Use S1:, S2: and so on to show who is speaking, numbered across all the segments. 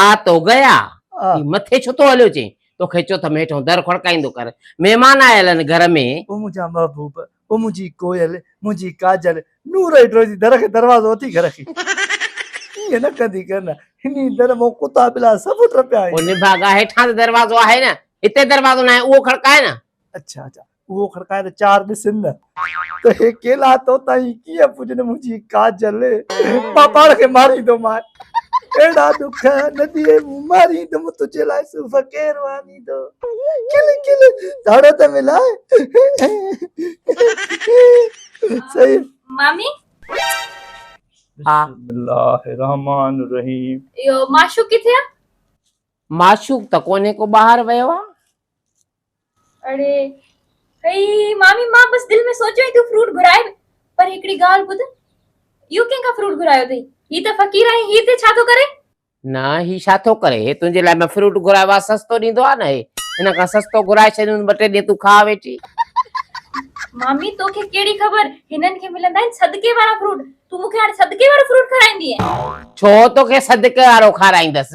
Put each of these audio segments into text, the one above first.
S1: آء تو گئي آء هي مٿي
S2: ڇو ٿو هليو
S1: چين توکي چوٿ م هيٺون در کڙڪائيندو ڪر مهمان آيل آهن گهر ۾. او منهنجا محبوب
S2: او منهنجي ڪوئل منهنجي ڪاجل نور هيٺ روئي ٿي در کي دروازو اٿي گهر کي ائين نه ڪندي ڪر نه هني در مان ڪتا ٻلا سڀ ٽپيا آهن. او نڀاڳا هيٺان ته
S1: دروازو آهي نه هتي دروازو ناهي اهو کڙڪاء نه. اڇا اڇا
S2: اهو کڙڪائي ته چار ڏسن نه ته هي ڪيلا توتائين ڪيئن پڄن منهنجي ڪاجل مان پاڻ کي ماريندومان اهڙا ڏک نه ڏي مون ماريندم تنهنجي لاء صوف ڪير وانيندو کل کل ڌڙ ته ملائي صحيح
S1: مامي بسم الله الرحمن
S2: الرحيم اهو معشوق ڪٿي
S3: آ؟ معشوق
S1: ته ڪونهي ڪو ٻاهر ويو آ.
S3: اڙي هي مامي مان بس دل ۾ سوچيو ته فروٽ گهرائي پر هڪڙي ڳالهه ٻڌ اهو ڪنهن کان فروٽ گهرايو اٿئي هي ته فقير آهي هي هتي ڇا ٿو ڪري. نه هي
S1: ڇا ٿو ڪري هي تنهنجي لاء ۾ فروٽ گهرايو آهي سستو ڏيندو آهي نه هي هن کان سستو گهرائي ڇڏيندس ٻه ٽي ڏينهن تون کاء ويٺي.
S3: مامي توکي ڪهڙي خبر هنن کي ملندا آهن صدقي وارا فروٽ تون مون کي هاڻي صدقي وارو فروٽ کارائيندينء. ڇو توکي
S1: صدقي وارو کارائيندس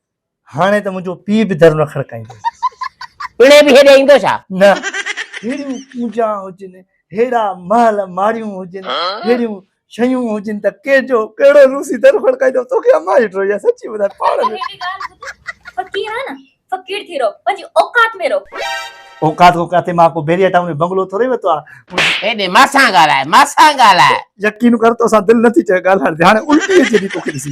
S1: هاڻي
S2: ته منهنجو پيء به در نه کڙڪائيندو. پڻهين به هيڏي ايندو
S1: ڇا؟ نه. ههڙيون
S2: ڪونجا هجن، ههڙا محل ماڙيون هجن، ههڙيون شيون هجن ته ڪنهن جو ڪهڙو روسي در کڙڪائيندو. توکي امان جي ڊوڙي آهي. سچي ٻڌاء پاڙ ۾. هيڏي ڳالهه ٻڌ. فقير آهي نه، فقير ٿي رهو.
S3: پنهنجي اوقات ۾ رهو. اوقات ڪو ڪاٿي؟ مان
S2: ڪو بيريا ٽائون ۾ بنگلو ٿورئي ورتو آهي. هيڏي مان سان
S1: ڳالهاء، مان سان ڳالهاء. يقين ڪر
S2: توسان دل نٿي چوي ڳالهائڻ تي. هاڻي الٽيء جيڏي توکي ڏسي.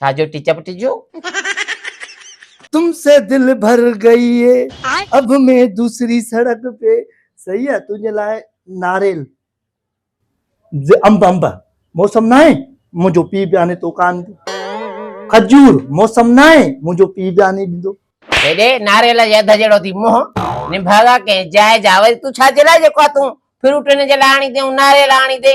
S1: ڇا جو ٽچ اپ ٽجو. تم
S2: سي دل ڀر گئي هي اب مين دوسري سڙڪ پي صحيح آ تنهنجي لاء ناريل جي انب انب موسم ناهي منهنجو پي به آني تو ڪان ڏيندو کجور موسم ناهي منهنجو پي به آني ڏيندو. هيڏي ناريل
S1: جي اڌ جهڙو ٿي منهن نڀاڳا ڪنهن جاء جا وري تون ڇا جي لاء جيڪو آ تون فروٽ هن جي لاء آڻي تيئون ناريل آڻي تي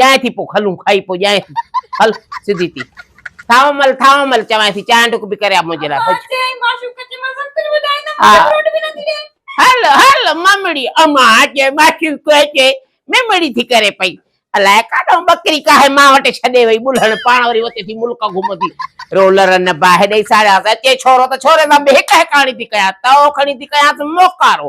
S1: ڄائين ٿي پو کلون کائي پو ڄائين ٿي هل سڌي ٿي ٿائو مل ٿائو مل چوائين ٿي چانهه ڍڪ به ڪري آ منهنجي لاء ڀڄ
S3: هل هل
S1: ممڙي امان جي معشوق اچي ممڙي ٿي ڪري پئي الاء ڪاڏو ٻڪري ڪاهي مان وٽ ڇڏي وئي ٻلهڻ پاڻ وري وتي ٿي ملڪ گهمندي رولر نه باهه ڏئي ساڙيا اچي ڇورو ته ڇوري سان به هڪ هڪاڻي ٿي ڪيان تئو کڻي ٿي ڪيانس موڪارو